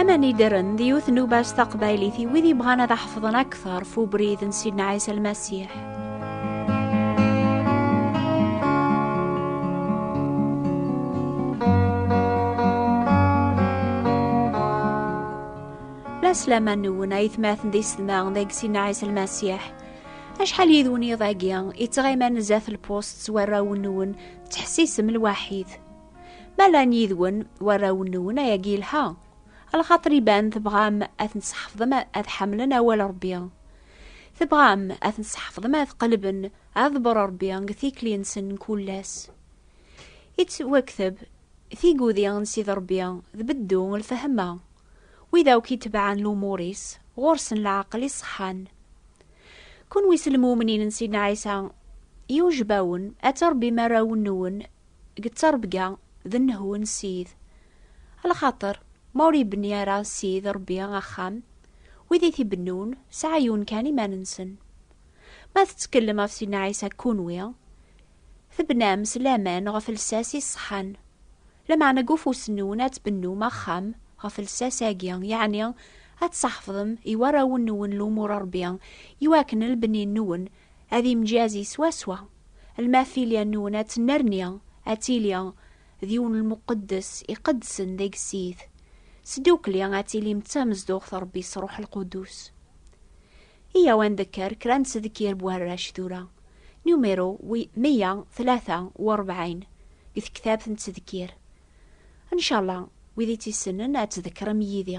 Amanider-n d yiwet n ubas taqbaylit i wid yebɣan ad aḥefḍen akteṛ f ubrid n Sidna Ɛisa Lmasiḥ. Laslaman nwen ay tmaten d isedma deg Sidna Ɛisa Lmasiḥ. Acḥal yid-wen iḍ-agi, ittɣiman zdat lpust s warraw-nwen, ttḥessisem lwaḥid. Ma llan yid-wen warraw-nwen ayagi yelha, alxaṭer iban tebɣam ad ten-tseḥfḍem ad ḥemmlen awal Ṛebbi. Tebɣam ad ten-tseḥfḍem ad qelben aḍebber Ṛebbi deg tikli-nsen n kul ass. Ittwakteb tigudi n Sidi Ṛebbi d beddu n lfehma. Wid akk itebɛen lumur-is, ɣur-sen leɛqel iṣeḥḥan. Kunwi s lmumnin n Sidna Ɛisa, yewjeb-awen ad tṛebbim arraw-nwen deg ttrebga d nnehwu n Ssid, alaxaṭer ma ur ibni ara Ssid Rebbi axxam, wid i t-ibennun sɛayyun kan iman-nsen. Ma tettkellem ɣef Sidna Ɛisa kunwi, tebnam s laman ɣef lsas i ṣṣeḥḥan. Lameɛna deg ufus-nwen ad tbennum axxam ɣef lsas-agi, yeɛni ad tṣaḥfḍem i warraw-nwen lumuṛ n Rebbi, iwakken lbni-nwen ad imjazi swaswa, lmafilya-nwen ad tennerni ad tili d yiwen lmuqeddes iqeddsen deg Ssid, sdukli ad tilim d tamezduɣt Rebbi s Ruḥ Lquddus. Iyyaw ad ndekker kra n tzekkir n warrac tura, numiru meyya tlata u rebɛin deg tektabt n tzekkir. Ncallah wid i tt-issennen ad tdekrem yid-i.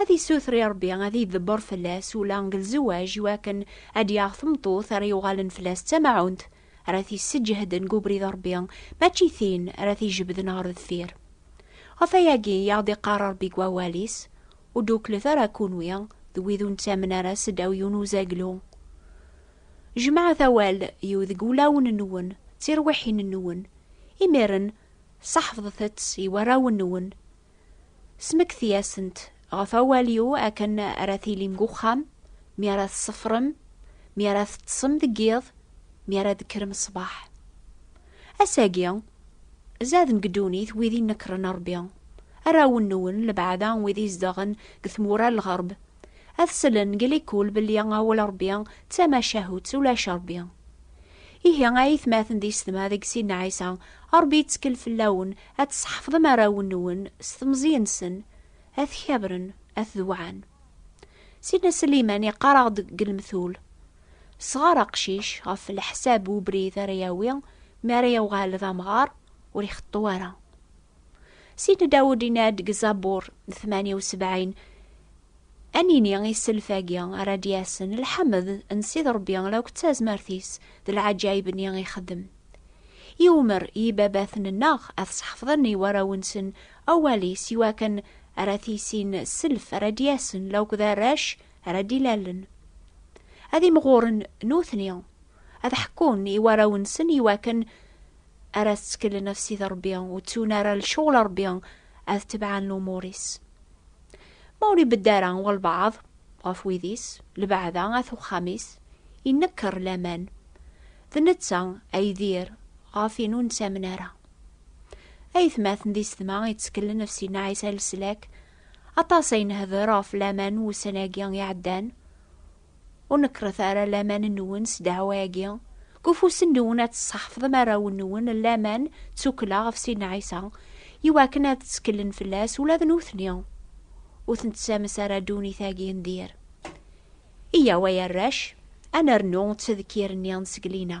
Ad issuter i Ṛebbi ad idebber fell-as ula deg lzewaj i wakken ad d-yaɣ tmeṭṭut ara yuɣalen fell-as d tamaɛunt ara t-isseǧehden deg ubrid n Ṛebbi, mačči tin ara t-ijebden ɣer deffir. Ɣef wayagi i aɣ-d-iqqar Ṛebbi deg Wawal-is, Ur d-uklet ara kunwi d wid ur nettamen ara seddaw yiwen uzaglu. Jemɛet awal iw deg wulawen-nwen d tirwiḥin-nwen, imiren seḥfḍet-tt i warraw-nwen. Smekti-asent ɣef awal-iw akken ara tilim deg uxxam, mi ara tṣeffrem, mi ara teṭṭsem deg yiḍ, mi ara d-tekkrem ṣṣbeḥ. Ass-agi, zaden deg ddunit wid inekren Ṛebbi, arraw-nwen, lebɛada wid izedɣen deg tmura n lɣerb, ad slen deg likul belli awal Ṛebbi d tamacahut, ulac Ṛebbi. Ihi ay itmaten d yessetma deg sin n Ɛisa, Rebbi yettkel fell-awen ad tesḥefḍem arraw-nwen s temẓi-nsen, ad t-kabren, ad t-dewɛen. Sidna Sliman yeqqar-aɣ-d deg lemtul, Sɣer aqcic ɣef leḥsab n ubrid ara yawi mi ara yewɣal d amɣar, ur ixeṭṭu ara. Sidi Dawed inna-d deg Zabur tmanya u sebɛin, Ad nini i sself-agi ara d-yasen, lḥemd n Sidi Rebbi akk d tazmert-is d leɛǧayeb-nni i ixeddem. I umer i yibabaten-nneɣ ad sḥefḍen i warraw-nsen awal-is i wakken ara tissin sself ara d-yasen akk d arrac ara d-ilallen. Ad imɣuren nutni, ad ḥekkun i warraw-nsen i wakken ara tettkelen af sid Ṛebbi, ur ttun ara lecɣal Ṛebbi, ad tebɛen lumuṛ-is. Ma ur ibedd ara walbeɛḍ ɣef wid-is, lbeɛda at uxxam-is, inekker laman. D netta ay d ir ɣef in ur nettamen ara. Aytmaten d isetma yettkelen af Sidna Ɛisa Leslak, aṭas ay nehder ɣef laman wussan-agi iɛeddan, Ur nekkret ara laman-nwen s ddeɛwa-agi, deg ufus-nwen ad tesseḥfḍem arraw-nwen n laman d tukkla ɣef Sidna Ɛisa, i wakken ad tteklen fell-as ula d nutni. Ur ten-tessames ara ddunit-agi n dir. Iyyaw ay arrac, ad nernu ttedkir-nni n tzeglin-a.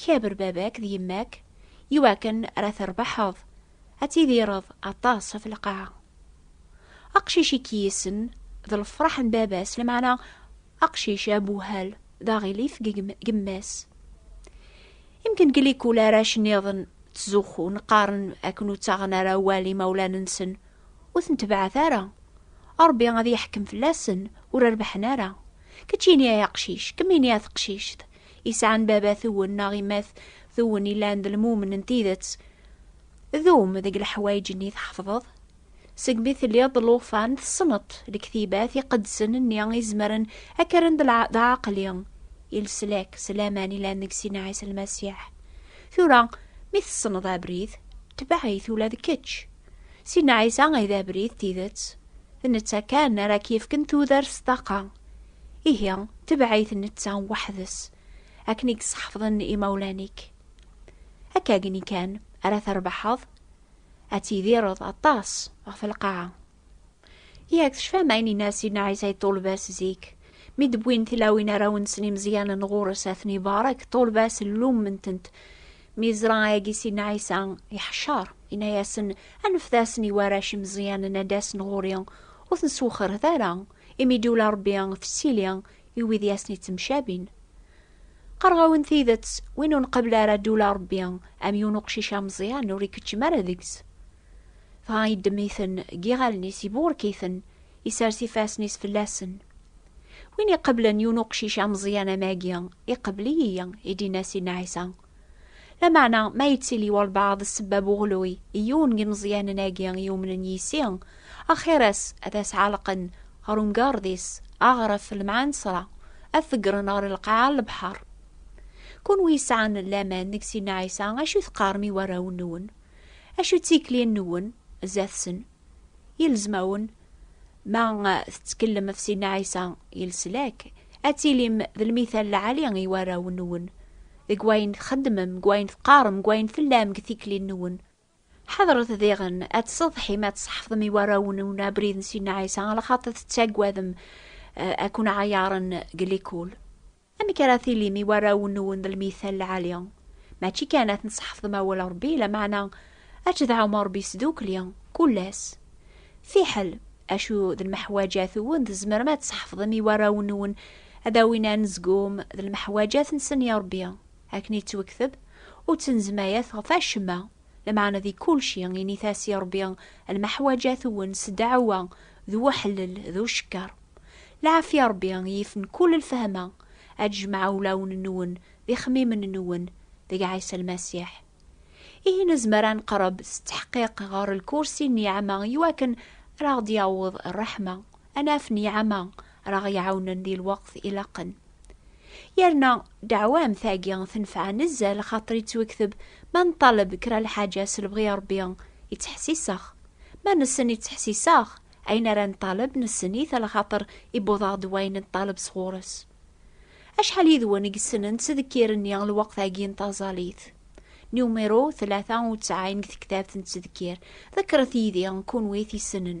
Kaber baba-k d yemma-k i wakken ara terbeḥeḍ, ad tidireḍ aṭas ɣef lqaɛa. Aqcic i k-yissen d lefraḥ n baba-s, lmeɛna aqcic abuhal d aɣilif deg yemma-s. Imken deg likul arrac nniḍen ttzuxxun, qqaren akken ur ttaɣen ara awal imawlan-nsen, ur ten-tebɛet ara, Ṛebbi ad yeḥkem fell-asen, ur rebbḥen ara. Kečč ini ay aqcic, kemm ini a teqcict. isɛan babat-wen neɣ imat-wen ilan d lmumen n tidet. Dum deg leḥwayeǧ-nni tḥefḍeḍ. Segmi telliḍ d lufan, tessneḍ lektibat iqedsen-nni izemren ad k-rren d aɛaqli, i leslak s laman ilan deg Sina Ɛisa Lmasiḥ. Tura, mi tessneḍ abrid, tbeɛ-it ula d kečč. Sina Ɛisa ay d abrid, tidet. D netta kan ara k-yefken tudert s ṭṭaqa. Ihi, tebɛit netta weḥd-s, akken i yesḥefḍen imawlan-ik. Akkagni kan ara trebḥeḍ, ad tidireḍ aṭas ɣef lqaɛa. Yak tecfam ayen yenna Sidna Ɛisa i ṭṭulba-s zik, mi d-wwin tilawin arraw-nsen imeẓyanen ɣur-s ad ten-ibarek, ṭṭulba-s lummen-tent. Mi yeẓra ayagi Sidna Ɛisa iḥcer, yenna-yasen, Anfet-asen i warrac imeẓyanen ad d-asen ɣur-i, ur ten-swexret ara, Imi d-iwla Ṛebbi fessili i wid i asen-ittemcabin. Qqareɣ-awen tidet, win ur nqabel ara d-iwla Ṛebbi, am yiwen uqcic ameẓyan ur ikeččem ara deg-s. Dɣa yeddem-iten deg yiɣallen-is, iburek-iten, isers ifassen-is fell-asen. Win iqablen yiwen uqcic ameẓyan am agi, iqabel-iyi, i d-inna Sidna Ɛisa. Lameɛna, ma yettili walebɛaḍ sebbab uɣelluy i yiwen n yimeẓyanen-agi i yumnen yis-i, axir-as ad as-ɛelqen ɣer umgarḍ-is, aɣref, lemɛensra, ad t-ḍeggren ɣer lqaɛa n lebḥer. Kunwi yesɛan laman deg Sidna Ɛisa, acu i teqqarem i warraw-nwen? Acu d tikli-nwen zdat-sen? Yelzem-awen, ma tettkellem ɣef Sidna Ɛisa, i leslak, ad tilim d lmithal lɛali i warraw-nwen, deg wayen txeddmem, deg wayen teqqarem, deg wayen tellam, deg tikli-nwen. Ḥadret diɣen ad tsetḥim, ad tṣeḥfdem i warraw-nwen abrid n Sidna Ɛisa, ala xaṭi tettaggadem ad ken-ɛayaren deg likul. Amek ara tilim i warraw-nwen d lmithal lɛali? Mačči kan ad ten-sḥefḍem awal Ṛebbi, lameɛna ad tedɛum Ṛebbi sdukli, kul ass. Fiḥel, acu d lmeḥwaǧat-wen tzemrem ad tsḥefḍem i warraw-nwen ad awin anezgum d lmeḥwaǧat-nsen i Ṛebbi, akken i ttwekteb, Ur ttnezmayet ɣef acemma, Lameɛna di kulci, init-as i Ṛebbi lmeḥwaǧat-wen s ddeɛwa, d weḥlel, d ucekker. Lɛafya Ṛebbi yifen kul lfehma, ad d-jmeɛ ulawen-nwen d ixemmimen-nwen deg Ɛisa Lmasiḥ. Ihi nezmer ad neqreb s tteḥqiq ɣer lkursi n niɛma iwakken ad aɣ-d-yaweḍ ṛṛeḥma, ad naf niɛma, ara ɣ-iɛawnen di lweqt ilaqen. Yerna ddeɛwa am tagi tenfeɛ nezzal xaṭer ittwekteb ma neṭṭaleb kra lḥaǧa s lebɣi n Rebbi ittḥessiseɣ. Ma nessen ittḥessiseɣ, ayen ara neṭṭaleb nessen-it a lxaṭer iwweḍ-aɣ-d wayen neṭṭaleb sɣur-s. Acḥal yid-wen i yessnen ttdekkir-nni lweqt-agi n taẓalit? Numiru tlata u ttɛin deg tektabt n ttdekkir. Ḍekkret yid-i, kunwi t-yessnen.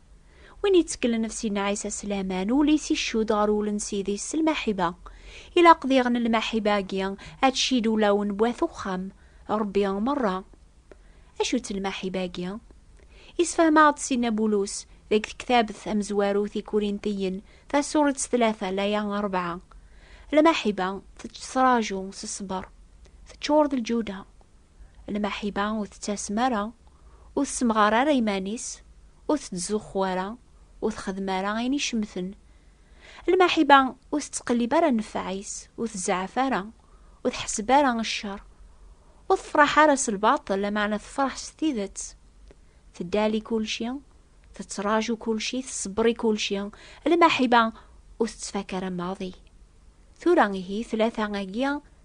Win yettkellen ɣef Sidna Ɛisa s laman, ul-is iccud ɣer wul n Sidi-s s lmaḥiba. Ilaq diɣen lmaḥiba-agi ad tcid ulawen n wat uxxam Ṛebbi meṛṛa. Acu-tt lmaḥiba-agi? Yessefhem-aɣ-d Sidna Bulus deg tektabt tamezwarut i Kurintiyen, tasuṛet tlata, laya ṛebɛa, Lmaḥiba tettraǧu s ṣṣber, teččur d lǧuda, Lmaḥiba ur tettasem ara, ur tessemɣar ara iman-is, ur tettzuxxu ara, ur texdem ara ayen icemten. Lmaḥiba ur tettqellib ara nnfeɛ-is, ur tzeɛɛef ara, ur tḥesseb ara ccer, ur tefraḥ ara s lbaṭel, lameɛna tefraḥ s tidet. Teddali kulci, tettraǧu kulci, tṣebber i kulci. Lmaḥiba ur tettfaka ara maḍi. Tura ihi, tlata-agi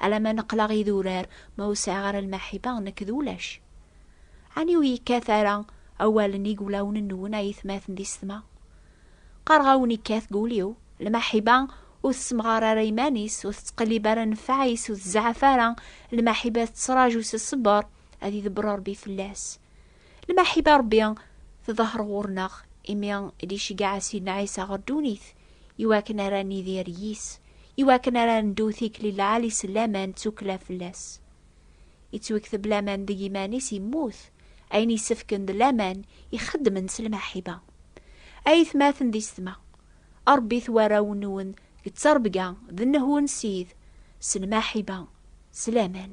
Alama neqleɣ idurar ma ur sɛiɣ ara lmaḥiba nekk d ulac. Ɛni ur yekkat ara awalen i wulawen-nwen a yetmaten di setma? Qqareɣ-awen yekkat deg ul-iw. Lmaḥiba ur tessemɣar ara iman-is, ur tettqellib ara nnfeɛ-is, ur tzeɛɛef ara, lmaḥiba tettraǧu s ṣṣber ad idebber Rebbi fell-as. Lmaḥiba Rebbi tḍeher ɣur-neɣ imi i d-iceggeɛ a Sidna Ɛisa ɣer ddunit. iwakken ara nidir yis, iwakken ara ndu tikli lɛali s laman d tukla fell-as. Ittwekteb laman deg iman-is yemmut, ayen yessefken d laman ixeddmen s lmaḥiba. Ay tmaten d isetma, ṛebbit warraw-nwen deg ttrebga d nnehw n Ssid, s lmaḥiba, s laman.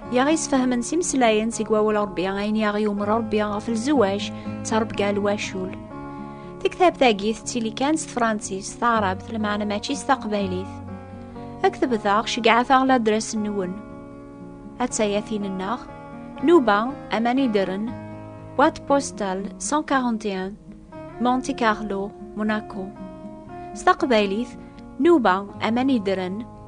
i aɣ-isfehmen s imeslayen seg wawal Rebbi ayen i aɣ-yumer Rebbi ɣef lzewaj d tarebga n wacul. Tektabt-agi tettili kan s tefransist, taɛrabt, lmeɛna mačči s taqbaylit. Ad k-tebdaɣ, ceggɛet-aɣ ladres-nwen. Attaya tin-nneɣ, Nuba, aman ideren, boîte postale 141, Monte Carlo, Monaco. S taqbaylit, Nuba, aman ideren,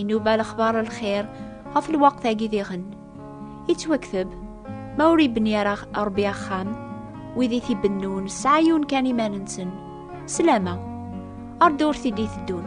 Inuba lexbar n lxir ɣef lweqt-agi diɣen. Yettwakteb, ma ur ibni ara Ṛebbi axxam, wid i t-ibennun sɛayun kan iman-nsen, slama, ar ddurt i d-iteddun.